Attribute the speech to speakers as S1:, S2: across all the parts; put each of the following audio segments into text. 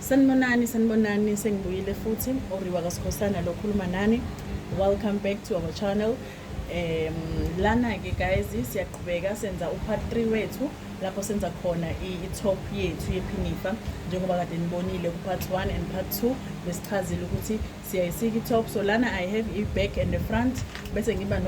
S1: sanibonani sanibonani sengibuyile futhi oriwa kasikhosana lo khuluma nani welcome back to our channel um lana-ke guys siyaqhubeka senza upart 3 wethu lapho senza khona i-top yethu yephinifa njengoba kade nibonile ku-part 1 and part 2 besichazile ukuthi siyayisika i-top so lana i have i-back and the front bese ngiba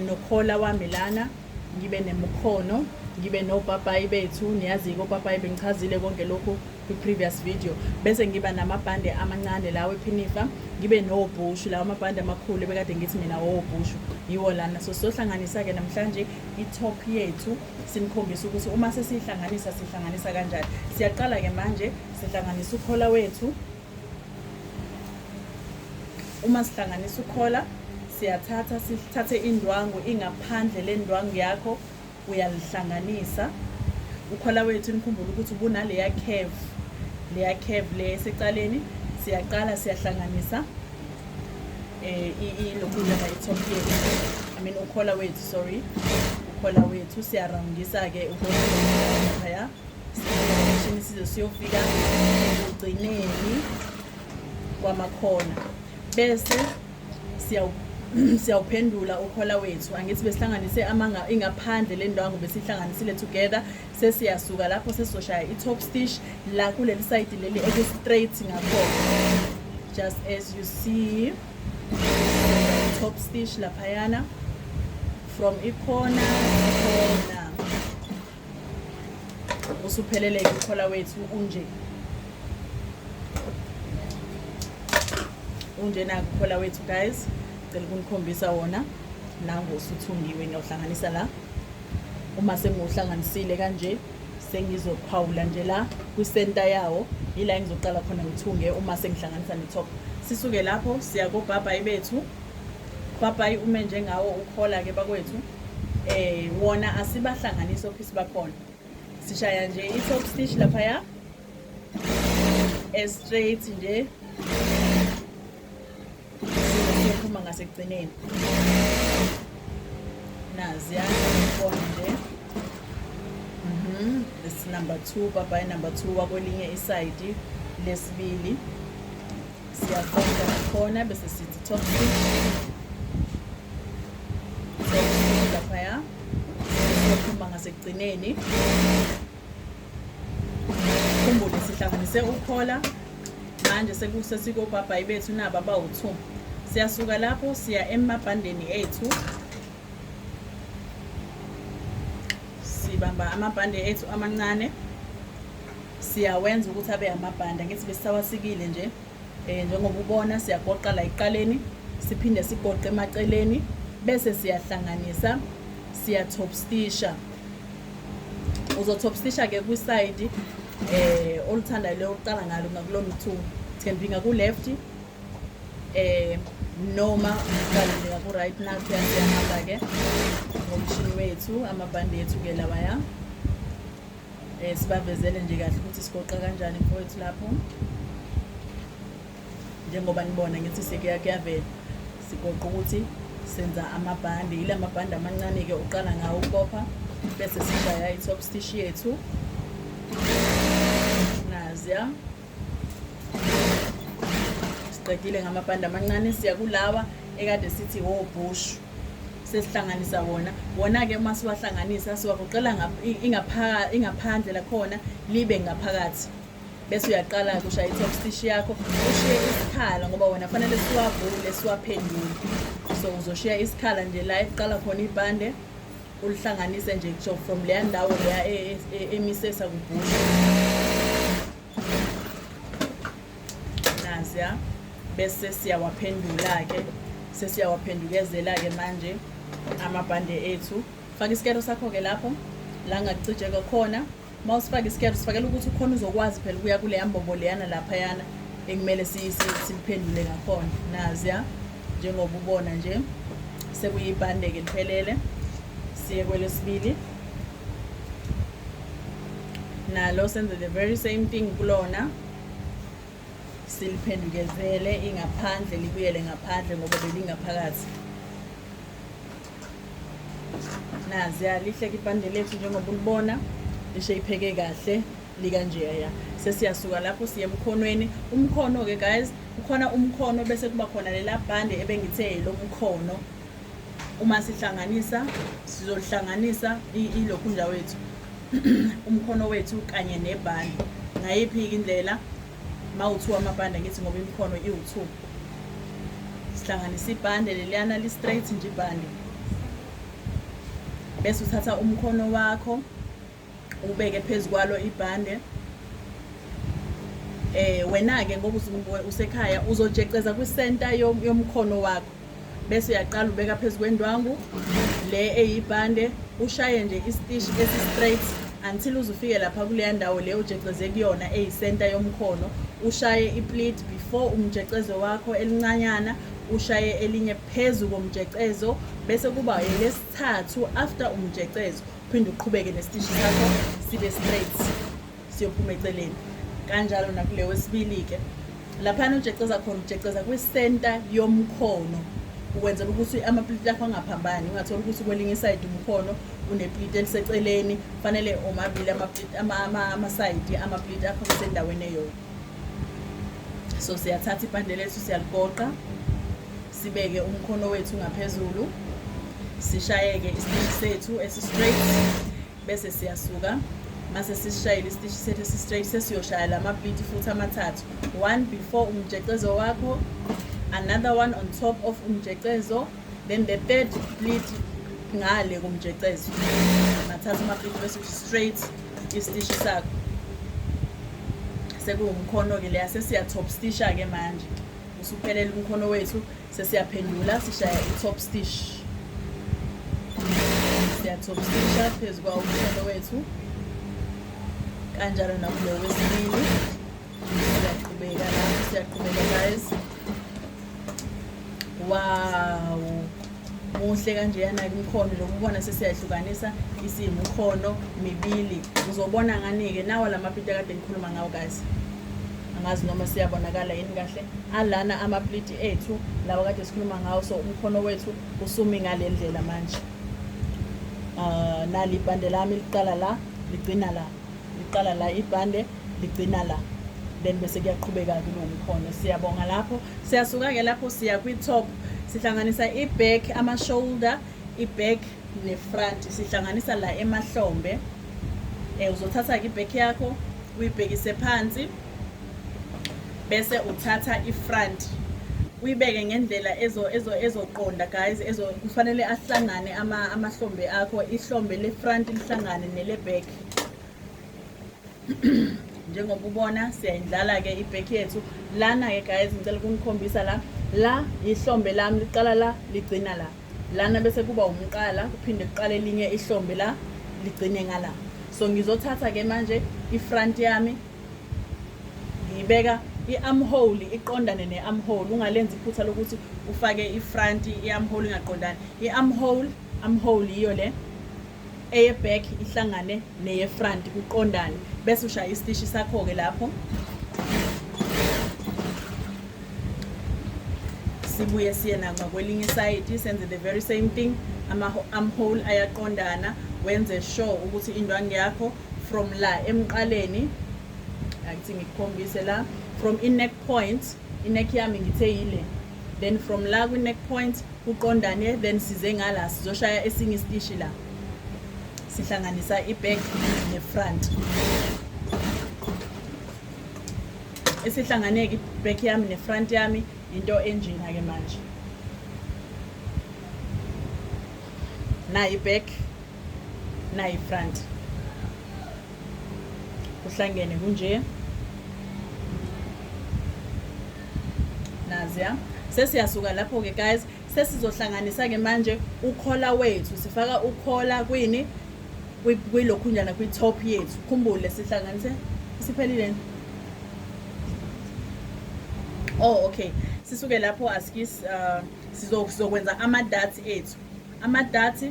S1: nokhola wami lana no ngibe nemukhono ngibe nopapayi bethu niyazike opapayi bengichazile konke lokhu kwi-previous video bese ngiba namabhande amancane lawo ephinifa ngibe nobhushu lawo amabhande amakhulu ebekade ngithi mina wobhushu yiwo lana so sizohlanganisa-ke namhlanje i-top yethu sinikhombisa ukuthi uma sesiyihlanganisa sihlanganisa kanjani siyaqala-ke manje sihlanganisa ukhola wethu uma sihlanganisa ukhola siyathatha sithathe indwangu ingaphandle lendwangu yakho uyalihlanganisa ukhola wethu nikhumbula ukuthi ubunaleya curve leya curve le esecaleni siyaqala siyahlanganisa eh ilokhuza la itop yethu i mean ukhola wethu sorry ukhola wethu siyaroundisa ke ukhola isishini size siyofika ekugcineni kwamakhona bese siyawuphendula ukhola wethu angithi besihlanganise amanga ingaphandle le ndawo ngobe sihlanganisile together sesiyasuka lapho sesizoshaya i-top stitch la kuleli sayidi leli eku-straight ngakhona just as you see top stitch laphayana from ikhona ikhona usupheleleke ukhola wethu unje unje naku ukhola wethu guys cela ukunikhombisa wona nango usuthungiwe ngiyawuhlanganisa la uma sengiwuhlanganisile kanje sengizophawula nje la kwisenta yawo yila engizoqala khona ngithunge uma sengihlanganisa netop sisuke lapho siya kobhabhayi bethu bhabhayi ume njengawo ukhola-ke bakwethu eh wona asibahlanganisi office bakhona sishaya nje i-top stitch laphaya e-straight nje siphuma ngasekugcineni naziya khona nje mhm this number 2 baba number 2 wakwelinye isayidi lesibili Siyaqonda khona bese sithi top laphaya siyophuma ngasekugcineni khumbule sihlanganise ukhola manje sekusesikobhabhayi bethu nabo abawu-two siyasuka lapho siya emabhandeni ethu sibamba amabhande ethu amancane siyawenza ukuthi abe amabhanda ngithi besisawasikile nje um njengoba ubona siyagoqa la ekuqaleni siphinde sigoqe emaceleni bese siyahlanganisa siyatopstisha uzotopstisha-ke kwisayidi um eh, oluthandayo leyo okuqala ngalo ngakulo mthu thembinga ku-left um eh, noma uqaleleka ku-right nathi yasiyahamba-ke ngomshini wethu amabhande yethu-ke lawaya Eh sibavezele nje kahle ukuthi sigoqa kanjani mfowethu lapho. Njengoba nibona ngithi sekuya kuyavela sigoqa ukuthi senza amabhande yila mabhande amancane ke uqala ngawo ukopha bese sishaya i-top stitch yethu naziya siqedile ngamabhande amancane siya kulawa ekade sithi wobhushu sesihlanganisa wona wona-ke uma siwahlanganisa siwagoqela ingaphandle lakhona libe ngaphakathi bese uyaqala kusha i-top stitch yakho ushiye isikhala ngoba wona fanele siwavule siwaphendule so uzoshiya isikhala nje la ekuqala khona ibhande ulihlanganise nje kusho from leya ndawo leya e, e, e, emisesa kubhusha naziya bese siyawaphendula-ke sesiyawaphendukezela-ke manje amabhande ethu faka isikero sakho-ke lapho la ngakucijeke khona uma usifaka isikero sifakela ukuthi ukhona uzokwazi phela ukuya kuleya mbobo leyana laphayana ekumele siliphendule ngakhona nazi ya njengoba ubona nje sekuyibhande-ke liphelele siye kwelesibili nalo senze the very same thing kulona siliphendukezele ingaphandle libuyele ngaphandle ngoba belingaphakathi nazi yalihle kibhande lethu njengoba ulibona lishe ipheke kahle likanjeya ya sesiyasuka lapho siye emkhonweni umkhono-ke guys kukhona umkhono bese kuba khona lelabhande ebengithe lo mkhono Uma sihlanganisa sizohlanganisa ilokhunja wethu umkhono wethu kanye nebhande ngayiphi-ke indlela ma u-two amabhande ngithi ngoba imikhono iwu-two sihlanganisa ibhande leliyana li-straight nje ibhande bese uthatha umkhono wakho ubeke phezu kwalo ibhande eh wena-ke ngoba usekhaya uzojeceza kwisenta yomkhono wakho bese uyaqala ubeka phezu kwendwangu le eyibhande ushaye nje istish esi-straight until uzufike lapha kuleya ndawo le ujeceze kuyona eyisenta yomkhono ushaye iplit before umjecezo wakho elincanyana ushaye elinye phezu komjecezo bese kuba elesithathu after umjecezo uphinde uqhubeke nesitishi sakho sibe straight siyophuma eceleni kanjalo nakule wesibili-ke laphana ujeceza khona ujeceza kwisenta yomkhono ukwenzela ukuthi amapliti akho angaphambani ungathola ukuthi kwelinye isayidi umkhono unepliti eliseceleni kufanele omabili amasayidi amapliti akho kusendaweni eyodwa so siyathatha ipande lethu siyaligoqa Sibeke umkhono wethu ngaphezulu, sishayeke isiteshi sethu esi-straight bese siyasuka mase sisishayele isiteshi sethu esi-straight sesiyoshaya la mapliti futhi amathathu one before umjecezo wakho another one on top of umjecezo then the third split ngale kumjecezo mathatha amapliti bese straight isitishi sakho sekuwumkhono-ke leya sesiya-top stisha-ke manje Usuphelele umkhono wethu sesiyaphendula sishaya i-top stitch. Siya-top stitcha phezu kwawo umkhono wethu kanjalo nakulo wesibili siyaqhubeka lapho siyaqhubeka guys wow muhle kanjeyana ke umkhono lokhu ubona sesiyahlukanisa isimo umkhono mibili uzobona ngani-ke nawa la mapliti akade ngikhuluma ngawo kazi angazi noma siyabonakala yini kahle alana amapliti ethu lawa kade sikhuluma ngawo so umkhono wethu usumi ngale ndlela manje um nali ibhande lami liqala la ligcina la liqala la ibhande ligcina la then bese kuyaqhubeka-ke lo mkhono siyabonga lapho siyasuka-ke lapho siya kwi-top sihlanganisa i-back ama-shoulder i-back ne-front sihlanganisa la emahlombe um uzothatha-ke i-back yakho uyibhekise phansi bese uthatha ifront uyibeke ngendlela ezoqonda guys kufanele ahlangane amahlombe akho ihlombe lefront lihlangane neleback njengoba ubona siyayidlala-ke ibhekhi yethu lana-ke guys ngicela ukunikhombisa la la yihlombe lami liqala la ligcina la lana bese kuba umqala kuphinde kuqale elinye ihlombe la ligcine ngala so ngizothatha-ke manje ifront yami ngiyibeka i-armhole iqondane ne-armhole ungalenzi iphutha lokuthi ufake i-front i-armhole ingaqondani i-armhole armhole yiyo le eye-back ihlangane neye-front kuqondane bese ushaya isitishi sakho-ke lapho sibuye siye nanxa kwelinye isayidi senze the very same thing ama-armhole ayaqondana wenze sure ukuthi indwangu yakho from la emqaleni angithi ngikukhombise la from i-neck point i-neck yami ngithe yile then from la kwi-neck point kuqondane then size ngala sizoshaya esinye isitishi la sihlanganisa i-back ne-front esihlanganeke i-back yami ne-front yami into enjena-ke manje nayi-back nayi front kuhlangene kunje naziya sesiyasuka lapho-ke guys sesizohlanganisa-ke manje ukhola wethu sifaka ukhola kwini kwilokhunyana kwi-top yethu khumbule sihlanganise isiphelile oh okay sisuke lapho asikis uh, sizokwenza ama-dati ethu ama-dati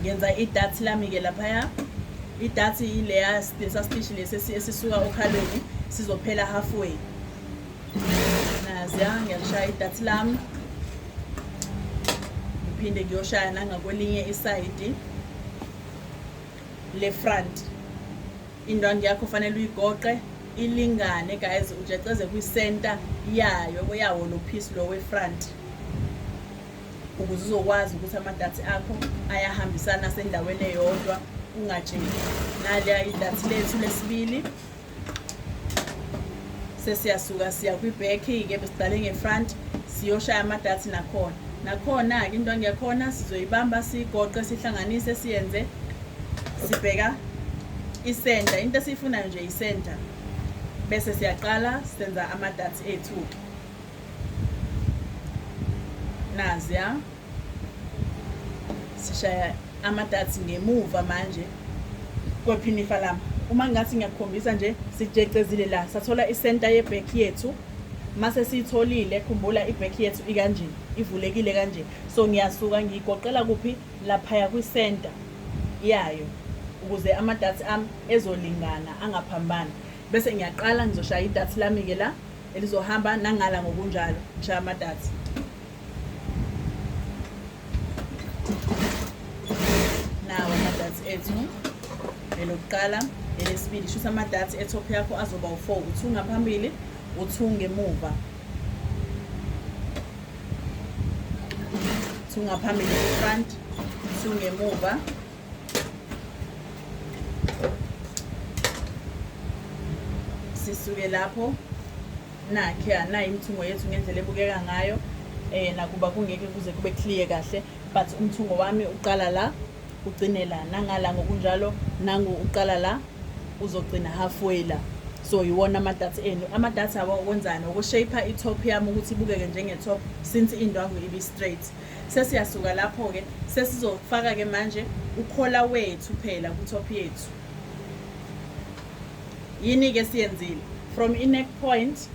S1: ngenza idathi lami-ke laphaya idathi ileya sasitishi lesi esisuka okhalweni sizophela halfway naziya ngiyalishaya idathi lami ngiphinde ngiyoshaya nangakwelinye isayidi le front indwangu yakho fanele uyigoqe ilingane guys ujeceze kwi-center yayo yawo lo piece lo we-front ukuze uzokwazi ukuthi amadathi akho ayahambisana asendaweni eyodwa ungatsheli naliya idathi lethu lesibili sesiyasuka siya kwibhekhi-ke besiqale ngefront siyoshaya amadathi nakhona nakhona-ke into angekhona sizoyibamba siyigoqe sihlanganise siyenze sibheka isenta into esiyifunayo nje isenta bese siyaqala senza amadathi ethu-ke nazi ya sishaya amadatsi ngemuva manje kwephinifa lami uma ngathi ngiyakukhombisa nje sijecezile la sathola isenta yebhek yethu mase siyitholile khumbula ibhek yethu ikanje ivulekile kanje so ngiyasuka ngiyigoqela kuphi laphaya kwisenta yayo ukuze amadatsi ami ezolingana angaphambani bese ngiyaqala ngizoshaya idatsi lami-ke la elizohamba nangala ngokunjalo ngishaye amadatha nawo amadatha ethu elokuqala elesibili shuthi amadatha etop yakho azoba u-four u-two ngaphambili u-two ngemuva two ngaphambili front two ngemuva sisuke lapho nakhe anayo imithungo yethu ngendlela ebukeka ngayo eh nakuba kungeke kuze kube clear kahle but umthungo wami uqala la ugcine la nangala ngokunjalo nangu uqala la uzogcina halfway la so yiwona amadatha enu amadatha awakwenzani ukushape i-top yami ukuthi ibukeke njenge-top since indwangu ibi-straight Sesiyasuka lapho-ke, sesizofaka-ke manje ukhola wethu phela ku-top yethu. Yini-ke esiyenzile? From i-neck point,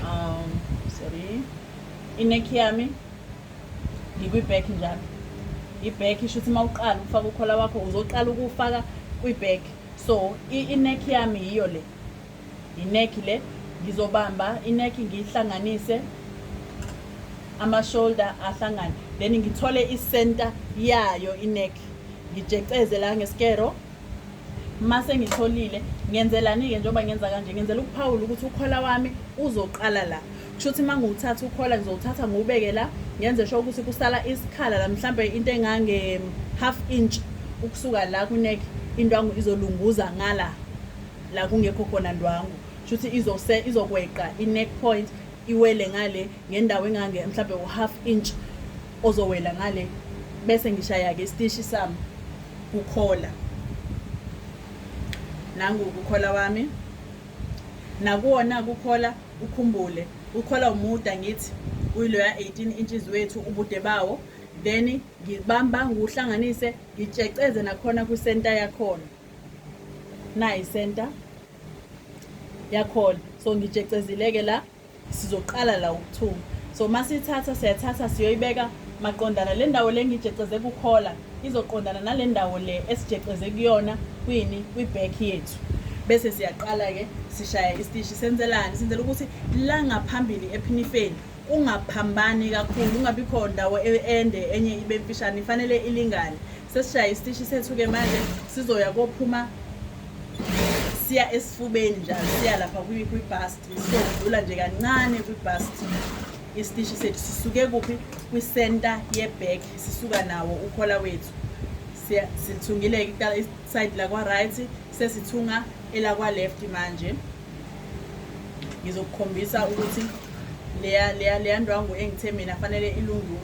S1: um, sorry, i-neck yami ngikwi-back njalo. I-back isho ukuthi uma uqala ukufaka ukhola wakho uzoqala ukuwufaka kwi-back. So i-neck yami yiyo le. Yinekhi le ngizobamba inekhi ngiyihlanganise ama-shoulder ahlangane then ngithole i-center yayo inekhi ngijeceze la ngeskero mase ngitholile ngenzelani-ke njengoba ngenza kanje ngenzela ukuphawula ukuthi ukhola wami uzoqala la kusho ukuthi uma ngiwuthatha ukhola ngizowuthatha ngiwubeke la ngenze sho ukuthi kusala isikhala la mhlawumbe into engange-half inch ukusuka la kwinekhi indwangu izolunguza ngala la kungekho khona ndwangu shuthi izose izokweqa i-neck point iwele ngale ngendawo engange mhlawumbe u-half inch ozowela ngale bese ngishaya-ke isitishi sami kukhola nangu kukhola wami nakuwona kukhola ukhumbule ukhola umuda ngithi uyiloya 18 inches wethu ubude bawo then ngibamba nguhlanganise ngitsheceze nakhona kwisenta yakhona nayi center yakhona so ngijecezileke la sizoqala la ukuthunga so masithatha siyathatha siyoyibeka maqondana le ndawo le ngijeceze kukhola izoqondana nale ndawo le esijeceze kuyona kwini kwi-back yethu bese siyaqala-ke sishaya isitishi senzelani senzela ukuthi la ngaphambili ephinifeni ungaphambani kakhulu ungabi khona ndawo e-, ende enye ibe mfishane ifanele ilingane sesishaye isitishi sethu-ke manje sizoya kophuma siya esifubeni njalo siya lapha kwi-bust sodlula nje kancane kwi-bust isitishi sethu sisuke kuphi kwisenta yebag sisuka nawo ukhola wethu sithungile iside lakwa-right sesithunga elakwa-left manje ngizokukhombisa ukuthi leya leya leya ndwangu engithe mina fanele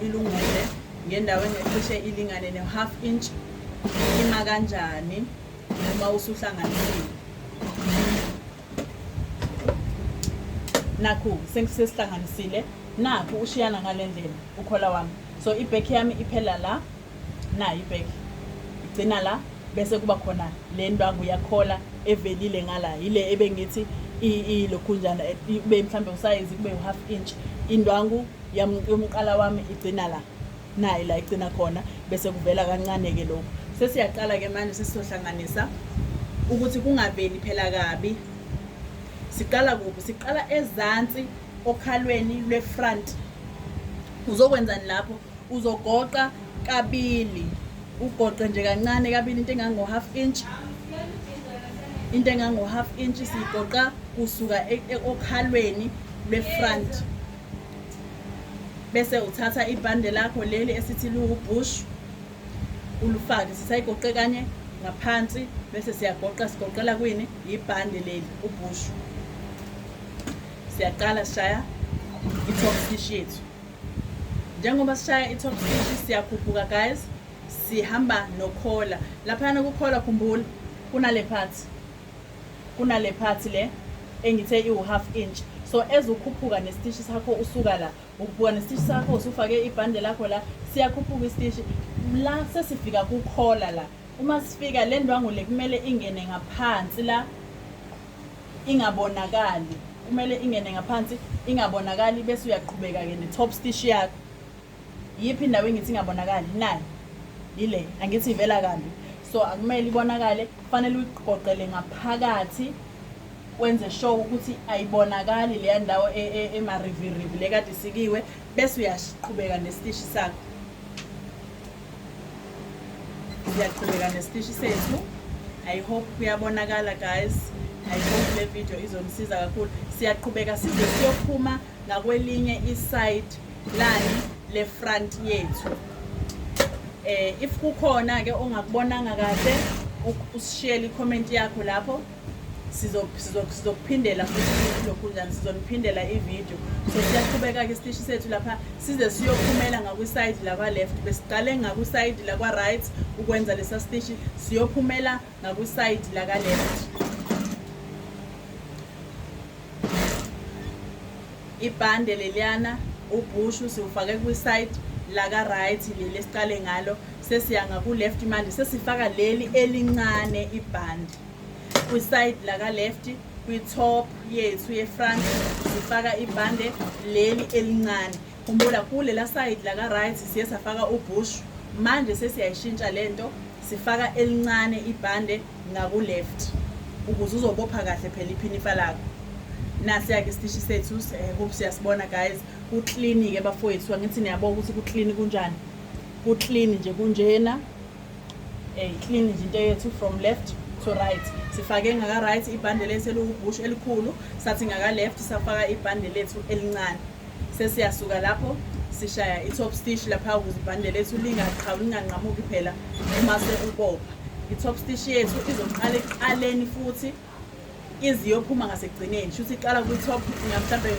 S1: ilungule ngendawo engecishe ilingane ne-half inch ima kanjani uma usuhlanganisile nakhu sengisesihlanganisile nakhu ushiyana ngale ndlela ukhola wami so ibek yami iphela la nayo ibek igcina la bese kuba khona le ndwangu yakhola evelile ngala yile ebengithi ilokhunjana kube mhlawumbe usayizi kube u-half inch indwangu yam yomqala wami igcina la naye la igcina khona bese kuvela kancane-ke lokhu sesiyaqala-ke manje sesizohlanganisa ukuthi kungaveli phela kabi siqala kuphi siqala ezansi okhalweni lwe-front uzokwenzani lapho uzogoqa kabili ugoqe nje kancane kabili into engango-half inch into engango-half inch siyigoqa kusuka e-, e-, okhalweni lwe-front bese uthatha ibhande lakho leli esithi liwubush ulufake sisayigoqe kanye ngaphansi bese siyagoqa sigoqela kwini yibhande leli ubush siyaqala sishaya i-top stitch yethu njengoba sishaya i-top stitch siyakhuphuka guys sihamba nokhola laphayana kukhola khumbula kunale phathi Kunale part le engithe iwu half inch so as ukhuphuka nesitishi sakho usuka la ukhuphuka nesitishi sakho usufake ibhande lakho la siyakhuphuka isitishi la sesifika kukhola la uma sifika le ndwangu le kumele ingene ngaphansi la ingabonakali kumele ingene ngaphansi ingabonakali bese uyaqhubeka-ke ne-top stish yakho yiphi indawo engithi ingabonakali nayo yile angithi ivela kambi so akumele ibonakale kufanele uyiqoqele ngaphakathi wenze sure ukuthi ayibonakali leya ndawo e, e, emarivirivi le kade isikiwe bese uyaqhubeka nesitishi sakho siyaqhubeka nesitishi sethu i hope kuyabonakala guys i hope le video izonisiza kakhulu siyaqhubeka size siyophuma ngakwelinye iside plan le front yethu eh if kukhona ke ongakubonanga kahle usishiyele icomment yakho lapho sizokuphindela futhi lokhu njani sizoniphindela ivideo so siyaqhubeka-ke isitishi sethu lapha size siyophumela ngakwisayidi lakwa-left besiqale ngakwisayidi lakwa-right ukwenza lesa sitishi siyophumela ngakusayidi laka left ibhande leliyana ubhushu siwufake kwisayidi laka right leli esiqale ngalo sesiya ngaku-left manje sesifaka leli elincane ibhande kwisayidi laka left kwi-top yethu ye-front sifaka ibhande leli elincane Khumbula kulela side la ka right siye safaka ubush manje sesiyayishintsha lento sifaka elincane ibhande ngaku left ukuze uzobopha kahle phela iphinifa lakho nasiyake isitishi sethu eh, hope siyasibona guys kuclean ke bafowethu angithi niyabona ukuthi kuclean kunjani kuclean nje kunjena eh clean nje into yethu from left to right sifake ngaka right ibhande lethu eliwubushu elikhulu sathi ngaka left safaka ibhande lethu elincane sesiyasuka lapho sishaya i-top stitch lapha ukuze ibhande lethu lingaqhawi linganqamuki phela uma sekubopha i-top stitch yethu izoqala ekuqaleni futhi iziyophuma ngasekugcineni shuthi iqala kwi-top mhlawumbe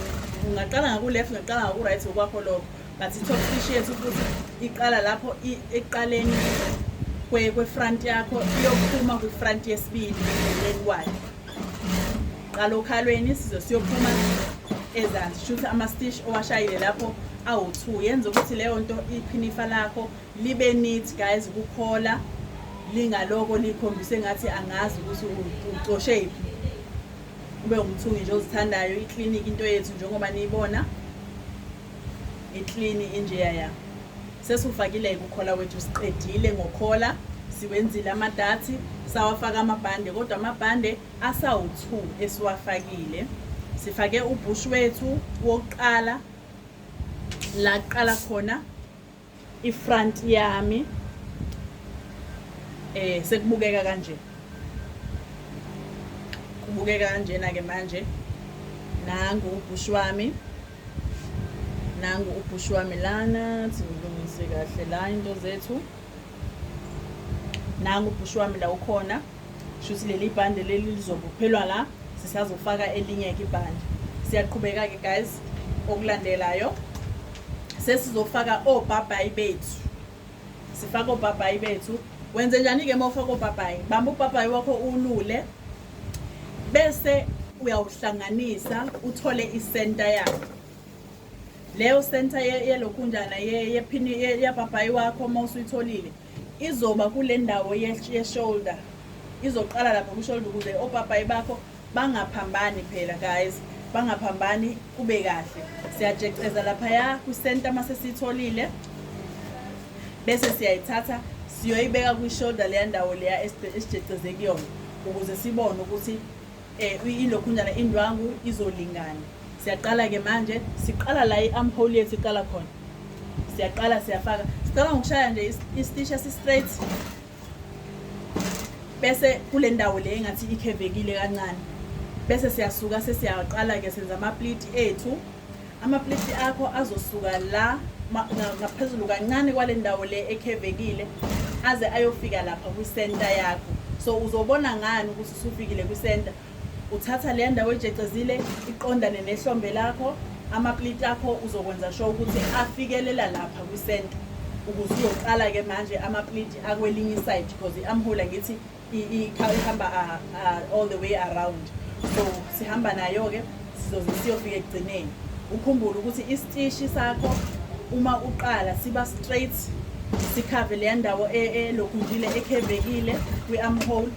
S1: ungaqala ngaku-left ungaqala ngaku-right okwakho lokho but i-top stitch yethu futhi iqala lapho ekuqaleni kwe-front yakho iyophuma kwi-front yesibili ekugcineni kwayo Qala okhalweni isizwe siyophuma ezansi shuthi ama-stish owashayile lapho awu-two yenza ukuthi leyo nto iphinifa lakho libe neat guys ukukhola lingaloko likhombise ngathi angazi ukuthi ucoshe yiphi ube umthungi nje ozithandayo ikliniki into yethu njengoba niyibona iklini injeya ya sesiwufakile-ke ukhola wethu siqedile ngokhola siwenzile amadathi sawafaka amabhande kodwa amabhande asawu-2 esiwafakile sifake ubhush wethu wokuqala la kuqala khona ifront yami eh sekubukeka kanje kubukeka kanjena ke manje nangu ubhush wami nangu ubhush wami lana silungise kahle la into zethu nangu ubhush wami la ukhona Shuthi leli bhande leli lizobophelwa la sisazofaka elinye ke ibhande. Siyaqhubeka ke guys okulandelayo sesizofaka obhabhayi bethu. Sifaka obhabhayi bethu. Wenze njani ke mawufaka obhabhayi? Bamba ubhabhayi wakho ulule bese uyawuhlanganisa uthole isenta yakho leyo senta yelokhunjana yephini yabhabhayi wakho uma usuyitholile Izoba kule ndawo ye-shoulder. Izoqala lapha ku-shoulder ukuze opapayi bakho bangaphambani phela guys. Bangaphambani kube kahle. Siyajeceza laphaya kwi-center uma sesiyitholile. Bese siyayithatha siyoyibeka kwi-shoulder leya ndawo leya esijeceze kuyona ukuze sibone ukuthi Eh ilokhunyana indwangu izolingana. Siyaqala ke manje, siqala la i-armhole yethu iqala khona. Siyaqala siyafaka. Sicela ngokushaya nje i-stitch esi-straight. Bese kule ndawo le engathi ikhevekile kancane. Bese siyasuka sesiyaqala ke senza ama-pleat ethu. Amapleti akho azosuka la ngaphezulu kancane kwale ndawo le ekhevekile aze ayofika lapha kwisenta yakho so uzobona ngani ukuthi usufikile kwisenta uthatha le ndawo ejecezile iqondane nehlombe lakho amapliti akho uzokwenza sho ukuthi afikelela lapha kwisenta ukuze uyoqala-ke manje amapliti akwelinye isayidi because i-amhula ngithi ihamba all the way around so sihamba nayo-ke sizoze siyofika ekugcineni ukhumbule ukuthi isitishi sakho uma uqala siba straight sikhave leya ndawo e, elokhunjile ekhevekile kwi-amhole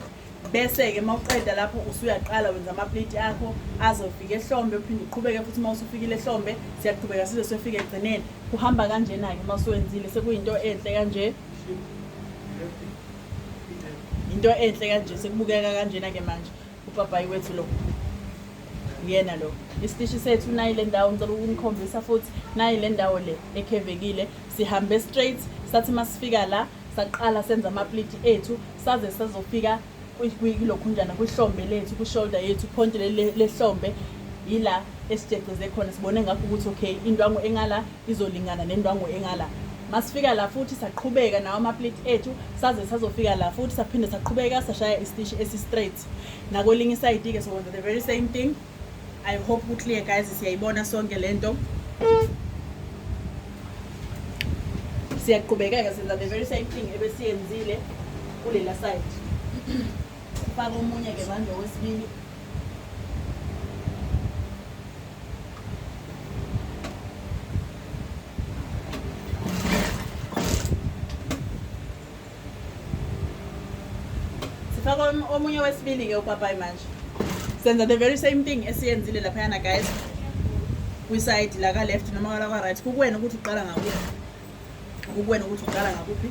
S1: bese-ke uma uqeda lapho usuyaqala wenza amapleti akho azofika ehlombe uphinde uqhubeke futhi uma usufikile ehlombe siyaqhubeka size siyofika ekugcineni kuhamba kanjena-ke uma usuwenzile sekuyinto enhle kanje into enhle kanje sekubukeka kanjena ke manje upapayi wethu lo uyena lo isitishi sethu nayi le ndawo ngicela ukunikhombisa futhi nayi le ndawo le ekhevekile sihambe straight sathi masifika la saqala senza amapliti ethu saze sazofika kulokhunjana kwihlombe lethu kwishoulder yethu phonti lehlombe yila esijeceze khona sibone ngakho ukuthi okay indwangu engala izolingana nendwangu engala masifika la futhi saqhubeka nawo amaplate ethu saze sazofika la futhi saphinde saqhubeka sashaya istishi esi-straight nakwelinye isayidi-ke sokwenza the very same thing i hope ku-clear guys siyayibona sonke le nto siyaqhubekeka senza the very same thing ebesiyenzile kulela side sifake omunye-ke manje owesibili sifaka omunye wesibili-ke upapayi manje senza the very same thing esiyenzile laphayana guys kwisayidi laka-left noma lakwa-right kukuwena ukuthi uqala ngakuphi kukuwena ukuthi uqala ngakuphi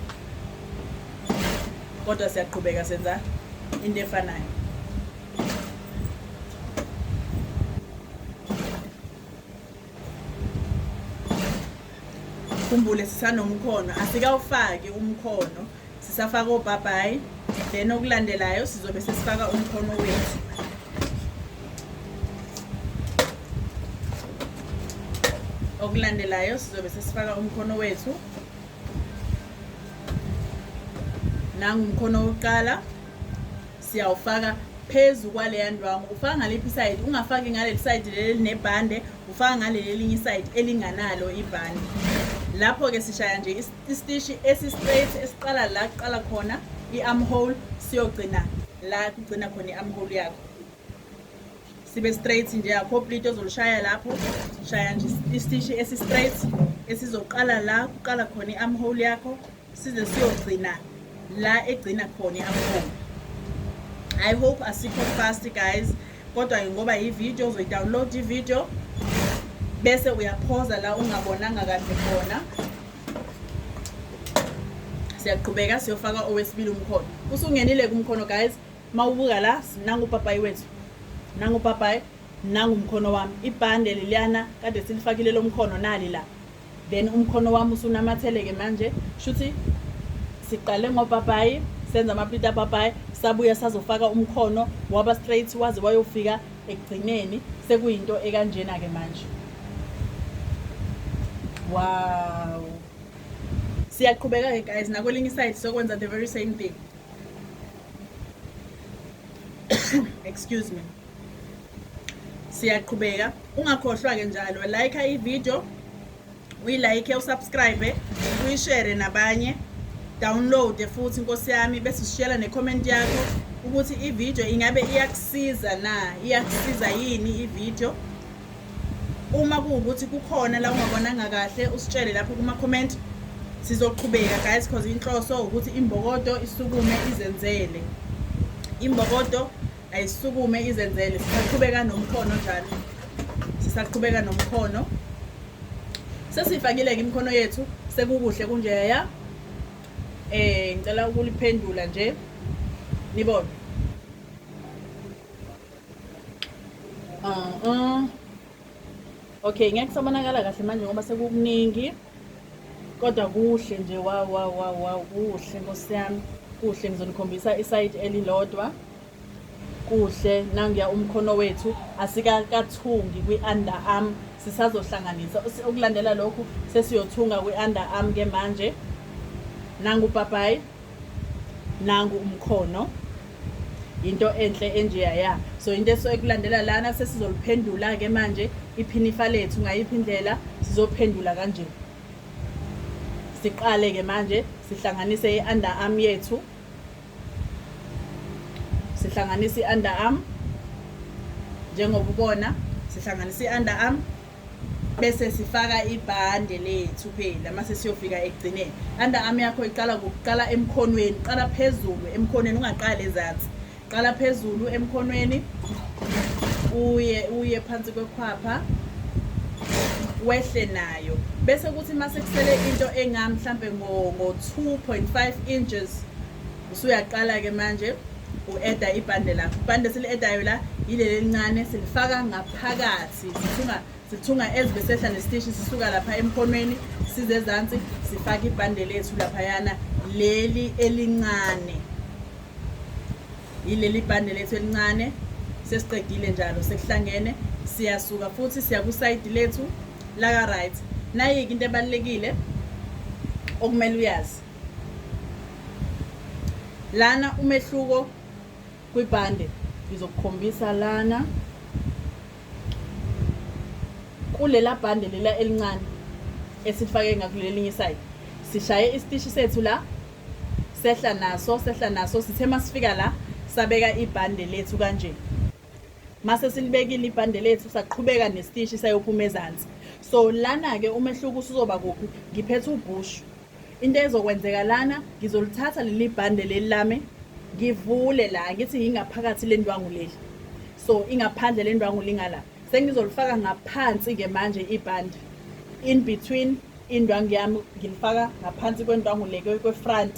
S1: kodwa siyaqhubeka senza into efanayo ukhumbule sisanomkhono asikawufaki umkhono sisafaka obhabhayi then okulandelayo sizobe sesifaka umkhono wethu okulandelayo sizobe sesifaka umkhono wethu nangumkhono wokuqala siyawufaka phezu kwaleya ndwangu ufaka ngaliphi isayidi ungafaki ngaleli sayidi leli elinebhande ufaka ngaleli elinye isayidi elinganalo ibhande lapho-ke sishaya nje isitishi esi-straight esiqala la kuqala khona i-armhole siyogcina la kugcina khona i-armhole yakho sibe straight nje akho plate ozolishaya lapho shaya nje isitishi esi-straight esizoqala la kuqala khona i-armhole yakho size siyogcina la egcina khona i-amhoma i hope asikho fast guys kodwa ke ngoba yivideo uzoyidownload ivideo bese uyaphoza la ungabonanga kahle khona siyaqhubeka siyofaka owesibili umkhono usungenile kumkhono guys mawubuka la nangu upapayi wethu nangu upapayi nangu umkhono wami ibhande leliyana kade silifakile lomkhono nali la then umkhono wami usunamatheleke manje shuthi siqale ngopapayi senza amaplita apapayi sabuya sazofaka umkhono waba straight waze wayofika ekugcineni sekuyinto ekanjena-ke manje wow siyaqhubeka-ke guys nakwelinye iside sokwenza the very same thing excuse me siyaqhubeka ungakhohlwa-ke njalo like ivideo uyilike usubscribe uyishere nabanye download futhi inkosi yami bese sishiyela necomment yakho ukuthi ivideo ingabe iyakusiza na iyakusiza yini ivideo uma kuwukuthi kukhona la ungabonanga kahle usitshele lapho kuma-comment sizoqhubeka guys because inhloso ukuthi imbokodo isukume izenzele imbokodo ayisukume izenzele sisaqhubeka nomkhono njalo sisaqhubeka nomkhono sesifakile-ke imikhono yethu sekukuhle kunjeya eh ngicela ukuliphendula nje nibona uh -uh. Okay, ngeke kusabonakala kahle manje ngoba sekukuningi. Kodwa kuhle nje wow wow wow wow kuhle Nkosi yami. Kuhle ngizonikhombisa isayidi elilodwa. Kuhle nangiya umkhono wethu asikakathungi kwi-underarm sisazohlanganisa ukulandela lokhu sesiyothunga kwi-underarm ke manje nangu ubhabhayi nangu umkhono yinto enhle enjeya ya so into esuke kulandela lana sesizoliphendula-ke manje iphinifa lethu ngayiphi indlela sizophendula kanje siqale-ke manje sihlanganise i-under arm yethu sihlanganise i-under arm njengoba ubona sihlanganise i-under arm bese sifaka ibhande lethu phela mase siyofika ekugcineni under arm yakho iqala kuqala emkhonweni qala phezulu emkhonweni ungaqali ezansi qala phezulu emkhonweni uye uye phansi kwekhwapha wehle nayo bese kuthi mase kusele into enga mhlambe ngo 2.5 inches usuyaqala ke manje u-eda ibhande lakho ibhande sili-edayo la yileli elincane silifaka ngaphakathi sithunga sithunga as besehla nesiteshi sisuka lapha emkhonweni size ezansi sifake ibhande lethu laphayana leli elincane yileli bhande lethu elincane sesiqedile njalo sekuhlangene siyasuka futhi siya kusayidi lethu laka right nayike into ebalulekile okumele uyazi lana umehluko kwibhande ngizokukhombisa lana kulela bhande lela elincane esifake ngakulelinye isayidi sishaye isitishi sethu la sehla naso sehla naso sithe masifika la sabeka ibhande lethu kanje mase silibekile ibhande lethu saqhubeka nesitishi sayophuma ezansi so lana-ke umehluko usuzoba kuphi ngiphethe ubhushu Into ezokwenzeka lana ngizolithatha leli bhande leli lami ngivule la ngithi yingaphakathi le ndwangu leli so ingaphandle le ndwangu lingala sengizolifaka ngaphansi-ke manje ibhande in between indwangu yami ngilifaka ngaphansi kwendwangu le kwefront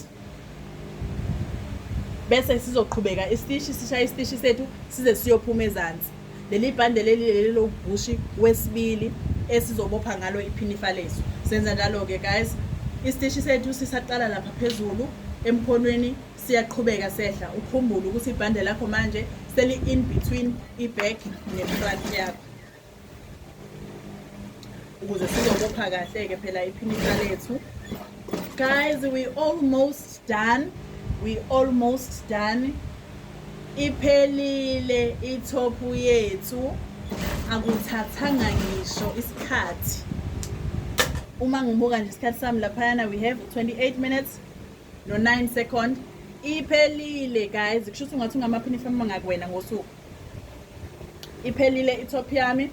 S1: bese sizoqhubeka isitishi sishaye isitishi sethu size siyophuma ezansi Leli bhande leli leli lobhushi wesibili esizobopha ngalo iphinifa lethu. Senza njalo-ke guys. Isiteshi sethu sisaqala lapha phezulu emkhonweni siyaqhubeka sehla ukhumbule ukuthi ibhande lakho manje seli-in between i-back ne-front yakho ukuze sizobopha kahle-ke phela iphinifa lethu guys we almost Done, we almost done. Iphelile i-top yethu. Akuthathanga ngisho isikhathi. Uma ngibuka nje isikhathi sami laphayana we have 28 minutes no 9 second. Iphelile guys, kusho ukuthi ungathi ungamaphini ifama ngakuwena ngosuku. iphelile itop yami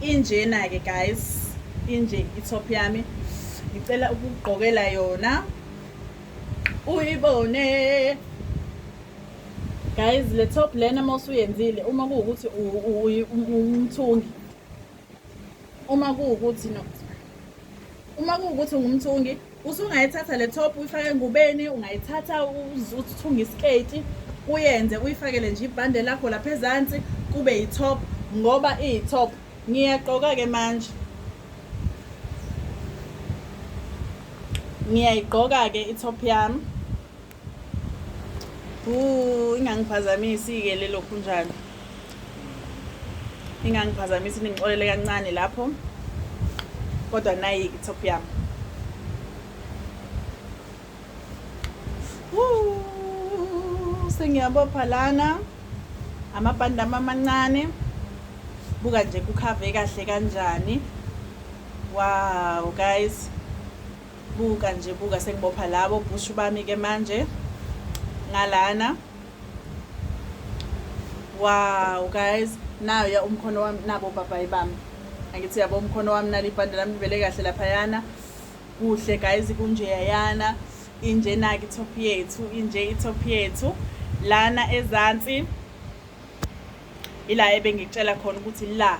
S1: injena-ke guys inje itop yami ngicela ukugqokela yona uyibone guys le top lena uma usuyenzile uma kuwukuthi umthungi uma kuwukuthi no uma kuwukuthi ungumthungi usungayithatha le top uyifake engubeni ungayithatha uthunge isiketi uyenze uyifakele nje ibhande lakho lapha ezansi kube yi-top ngoba iyi-top ngiyagqoka-ke manje ngiyayigqoka-ke i-top yami Ooh, ingangiphazamisi-ke lelo khunjana ingangiphazamisi ningixolele kancane lapho kodwa nayi i-top yami sengiyabopha lana amabhandi ami amancane buka nje kukhave kahle kanjani wow guys buka nje buka sengibopha labo bhushu bami ke manje ngalana wow guys nayo ya umkhono wami nabo bhabhayi bami angithi yabo umkhono wami nali ibhande lami livele kahle laphayana kuhle guys kunjeyayana injena-ke itop yethu inje itop yethu lana ezansi ila ebengikutshela khona ukuthi la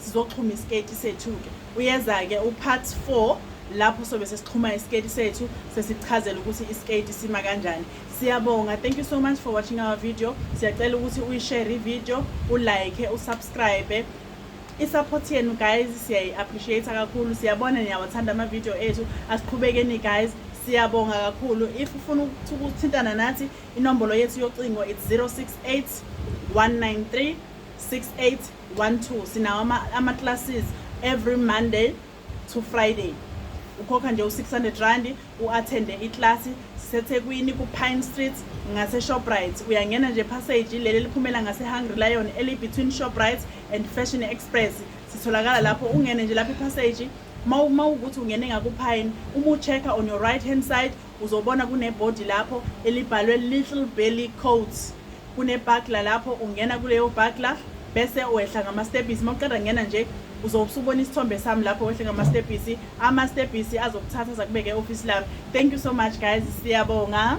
S1: sizoxhuma isiketi sethu-ke uyeza-ke upart four lapho sobe sesixhuma isiketi sethu sesichazela ukuthi isiketi sima kanjani siyabonga thank you so much for watching our video siyacela ukuthi uyishare ivideo ulike usubscribe i-support yenu guys siyayi-appreciate kakhulu siyabona niyawathanda amavidiyo ethu asiqhubekeni guys siyabonga kakhulu if ufuna ukuthintana nathi inombolo yethu yocingo it's 068 193 68 one two sinawo ama-classes every monday to friday ukhokha nje u-600 rand u-athende iklasi sisethekwini ku-pine street ngaseshoprite uyangena nje passage leli eliphumela ngase-hungry lion eli-between shoprite and fashion express sitholakala lapho ungene nje lapho ipassage uma ukuthi ungene ngakupine uma u-check-a on your right hand side uzobona kunebhodi lapho elibhalwe little belly coats Kunebhakla lapho ungena kuleyo bhakla bese wehla ngamastebhisi uma uqeda ngena nje uzobe usubona isithombe sami lapho wehle ngamastebhisi amastebhisi azokuthatha zakubeke e-ofisi lami thank you so much guys siyabonga